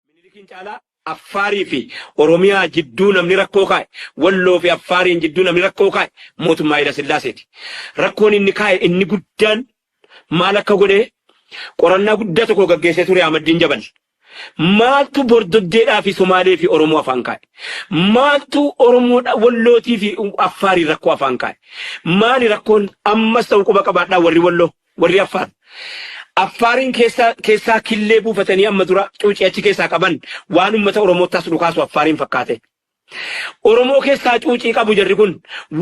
Minilikiin caalaa Affaarii fi Oromiyaa jidduu namni rakkoo kaa'e, Walloo fi Affaariin jidduu namni rakkoo kaa'e mootummaa Hayila Sillaaseeti. Rakkoon inni kaa'e inni guddaan maal akka godhe qorannaa guddaa tokko gaggeessee ture Ahmaddiin Jabal. Maaltu Bordoddeedhaa fi Somaalee fi Oromoo afaan kaa'e? Maaltu Oromoo Wallootii fi Affaariin rakkoo afaan kaa'e? Maali rakkoon ammas ta'u quba qabaadhaa warri Walloo? Warri Affaar. Affaariin keessaa keessaa killee buufatanii amma dura cuucii achi keessaa qaban waan uummata Oromoottaas dhukaasu Affaariin fakkaate. Oromoo keessaa cuucii qabu jarri kun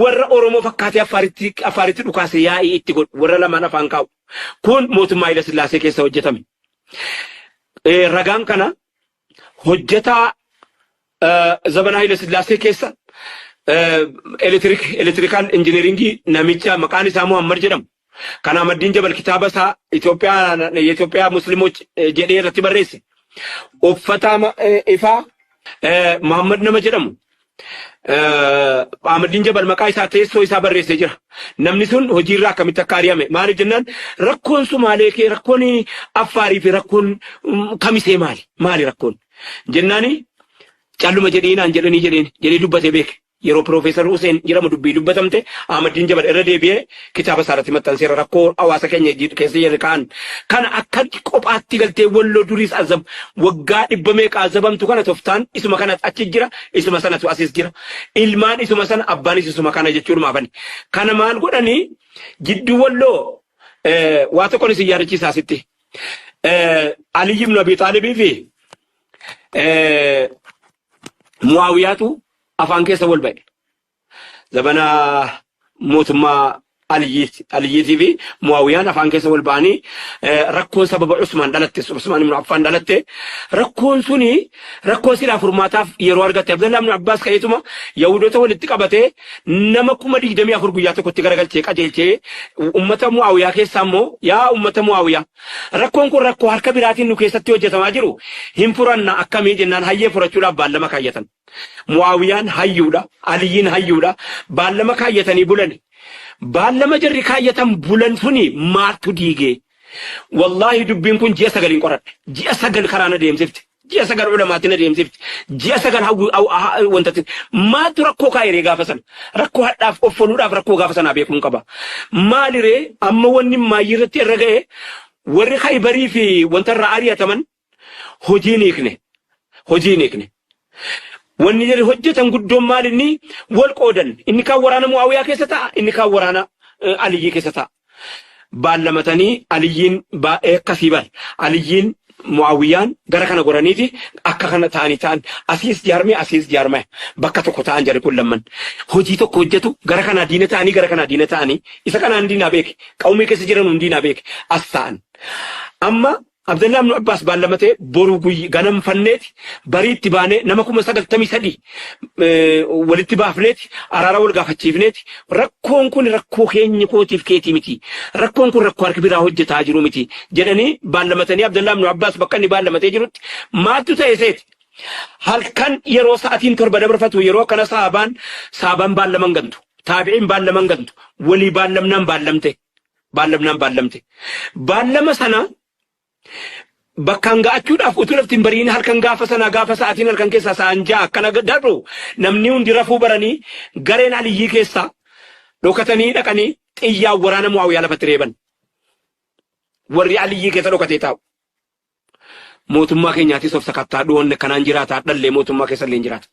warra Oromoo fakkaatee Affaaritti Affaaritti dhukaase yaa'ii itti godhu warra lamaan afaan kaa'u. Kun mootummaa Hayila Sillaasee keessa hojjetame. Eh, Ragaan kana hojjetaa Zabana Hayila Sillaasee keessa elektirikaal injiniringii namicha maqaan isaa Muhammad jedhamu. Kan Ahmaddiin Jabal kitaaba isaa Itoophiyaa Musliimoch jedhee irratti barreesse. Uffata ifaa Muhammad nama jedhamu Ahmadiin Jabal maqaa isaa teessoo isaa barreessee jira. Namni sun hojiirraa akkamitti akka ari'ame maaliif jennaan rakkoon Sumaalee kee rakkoon Affaarii fi rakkoon kamisee maali maali rakkoon jennaani calluma jedhiinaan jedhanii jedheen jedhee dubbatee beeke. Yeroo Piroofeesar Huseen jedhamu dubbii dubbatamte Ahmadiin Jabal irra deebi'ee kitaaba isaa irratti maxxanseera rakkoo hawaasa keenya jiidhu keessa jirre kaan kana akka qophaatti galtee walloo duriis azab waggaa dhibba meeqa azabamtu kana toftaan isuma kana achi jira isuma sanatu asis jira ilmaan isuma sana abbaanis isuma kana jechuudhuma afani kana maal godhanii jidduu walloo eh, waa tokkon isin yaadachiisaa sitti eh, Aliyyi ibn Abi Xaalibii fi eh, Muawiyaatu afaan keessa wal ba'e. Zabana mootummaa Aliyyii fi Muawiyaan afaan keessa wal ba'anii rakkoon sababa Usmaan dhalatte Usmaan ibnu Affaan dhalatte rakkoon suni rakkoo silaa furmaataaf yeroo argatte Abdallaa ibnu Abbaas ka'eetuma Yahudoota walitti qabatee nama kuma digdamii afur guyyaa tokkotti garagalchee qajeelchee ummata Muawiyaa keessaa immoo yaa ummata Muawiyaa rakkoon kun rakkoo harka biraatiin nu keessatti hojjetamaa jiru hin furanna akkamii jennaan hayyee furachuudhaaf baallama kaayyatan. Mu'aawiyaan hayyuudha, Aliyyiin hayyuudha, baallama kaayyatanii bulani. Baallama jarri kaayyatan bulan suni maaltu diige? Wallaahi dubbiin kun ji'a sagaliin qoradhe. Ji'a sagal karaa na deemsifte. Ji'a sagal ulamaatti na deemsifte. Ji'a sagal hawwi- haw- ha- ha- wantatti. Maaltu rakkoo kaayiree gaafa sana? Rakkoo hadhaaf offaluudhaaf rakkoo gaafa sanaa beekuun qaba. Maaliree amma wanni maayyii irratti irra ga'e warri Khaybarii fi wanta irraa ari'ataman hojii hin hiikne. Hojii hin hiikne. Wanni jarri hojjetan guddoon maal inni wal qoodan. Inni kaan waraana Mu'aawiyaa keessa ta'a, inni kaan waraana eh, Aliyyii keessa ta'a. Baallamatanii Aliyyiin baay'ee akkasii bar. Aliyyiin Mu'aawiyaan gara kana goraniiti akka kana ta'anii ta'an asiis jaarmee asiis jaarmee bakka tokko ta'an jarri kun lamman. Hojii tokko hojjetu gara kanaa diina ta'anii gara kanaa diina ta'anii isa kanaan diinaa beeke qawmii keessa jiran hundi diinaa beeke as ta'an. Amma Abdallaa ibnu Abbaas baallamatee boru guyy ganam fanneeti bariitti baanee nama kuma sagaltamii sadii walitti baafneeti araara wal gaafachiifneeti rakkoon kun rakkoo keenya kootiif keetii miti rakkoon kun rakkoo harki biraa hojjetaa jiru miti jedhanii baallamatanii Abdallaa ibnu Abbaas bakka inni baallamatee jirutti maaltu ta'e seeti halkan yeroo sa'atiin torba dabarfatu yeroo akkana saabaan saabaan baallaman gantu taabi'iin baallaman gantu walii baallamnaan baallamte baallamnaan baallamte. Baallama sana bakkaan ga'achuudhaaf utuu lafti hin bariin halkan gaafa sanaa gaafa sa'aatiin halkan keessaa sa'aan ja'a akkana darbu namni hundi rafuu baranii gareen aliyyii keessaa dhokatanii dhaqanii xiyyaa waraana mu'aawiyaa lafatti reeban. Warri aliyyii keessa dhokatee taa'u. Mootummaa keenyaatis of sakattaa dhuwanne kanaan jiraata dhallee mootummaa keessa illee jiraata.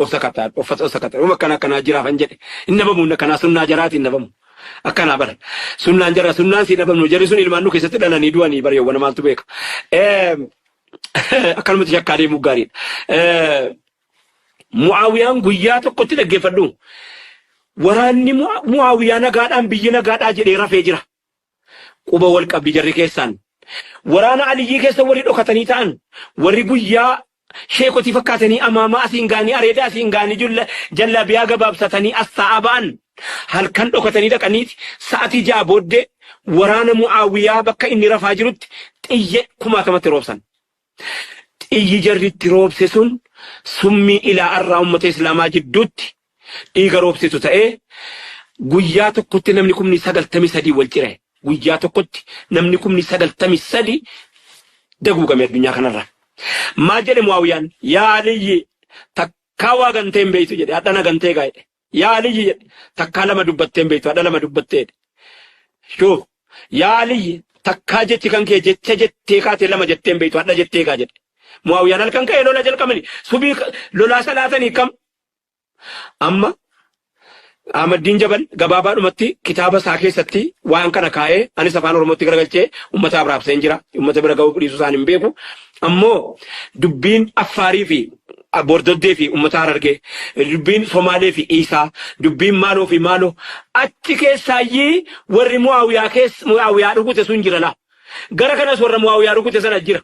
osakata uffata osakata uma kana kana jira fan jedhe hin dhabamu inna kana sunnaa jaraati hin dhabamu akkana bara sunnaan jara sunnaan si dhabamu jarri sun ilmaan nu keessatti dhalanii du'anii bara yawwana maaltu beeka Eh, akkanumatti shakkaa deemuu gaariidha Eh, mu'aawiyaan guyyaa tokkotti dhaggeeffadhu waraanni Mu'a- mu'aawiyaa nagaadhaan biyyi nagaadhaa jedhee rafee jira Quba wal qabdi jarri keessaan. Waraana Aliyyii keessa warri dhokatanii ta'an, warri guyyaa sheekotii fakkaatanii amaamaa asiin ga'anii areeda asiin ga'anii julla jallaabiyaa gabaabsatanii as taa'aa ba'an, halkan dhokatanii dhaqaniiti sa'atii ja'a booddee waraana Mu'aawiyaa bakka inni rafaa jirutti xiyya kumaatamatti roobsan. Xiyyi jarri itti roobse sun summii ilaa arraa ummata Islaamaa jidduutti dhiiga roobsitu ta'ee guyyaa tokkotti namni kumni 93 wal cire. Guyyaa tokkotti namni kumni 93 daguugame addunyaa kanarraa. Maal jedhe Mu'aawiyaan? Yaa Aliyyi takkaa waa gantee hin beeytu jedhe. Hadhana gantee gaa jedhe. Yaa Aliyyi jedhe. Takkaa lama dubbattee hin beektu, hadha lama dubbattee jedhe. Shuuf, yaa Aliyyi takkaa jechi kan kee jecha jettee kaatee lama jettee hin beektu, hadha jettee kaa jedhe. Mu'aawiyaan halkan ka'ee lola jalqabani. Subii lolaa salaatanii kam? Amma Ahmaddiin Jabal gabaabaadhumatti kitaaba isaa keessatti waan kana kaa'ee anis afaan Oromootti garagalchee uummata abraabseen jira. Uummata bira ga'uu dhiisuu isaan hin beeku. Ammoo dubbiin Affaarii fi Bordoddee fi ummata Harargee, dubbiin Somaalee fi Iisaa, dubbiin maaloo fi maaloo, achi keessaayyii warri Mu'aawiyaa keessa, Mu'aawiyaa rukute sun jira laa. Gara kanas warra Mu'aawiyaa rukute sana jira.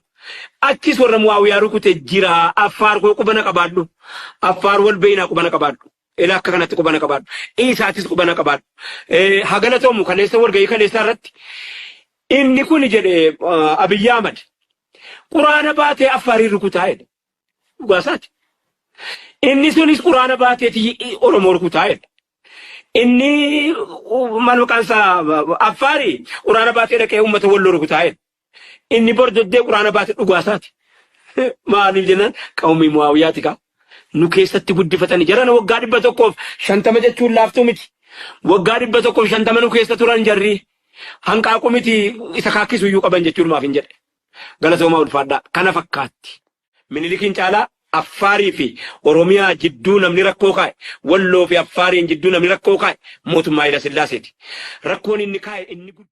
Achis warra Mu'aawiyaa rukute jira. Affaar koo quba na qabaadhu. Affaar wal beeynaa quba na qabaadhu. Ila akka kanatti quba na qabaadhu. Iisaatis quba na qabaadhu. Eh, Haa galatoomu kaleessa walgahii kaleessaa irratti inni kun jedhe ah, Abiyyi Ahmad quraana baatee Affaariin rukutaa jedhe. Dhugaa isaati. Inni sunis quraana baateeti Oromoo rukutaa jedhe. Inni maal maqaan isaa Affaari quraana baatee dhaqee uummata walloo rukutaa jedhe. Inni bordoddee quraana baate dhugaa isaati. Maaliif jennaan qawmii Mu'aawiyaati kaa. Nu keessatti guddifatanii jarana waggaa dhibba tokkoof shantama jechuun laaftuu miti. Waggaa dhibba tokkoof shantama nu keessa turan jarri hanqaaquu miti isa kaakkisu iyyuu qaban jechuun maaf hin jedhe. Galatoomaa ulfaadhaa. Kana fakkaatti. Minilikiin caalaa Affaarii fi Oromiyaa jidduu namni rakkoo kaa'e, Walloo fi Affaariin jidduu namni rakkoo kaa'e mootummaa Hayila Sillaaseeti. Rakkoon inni kaa'e inni guddaan.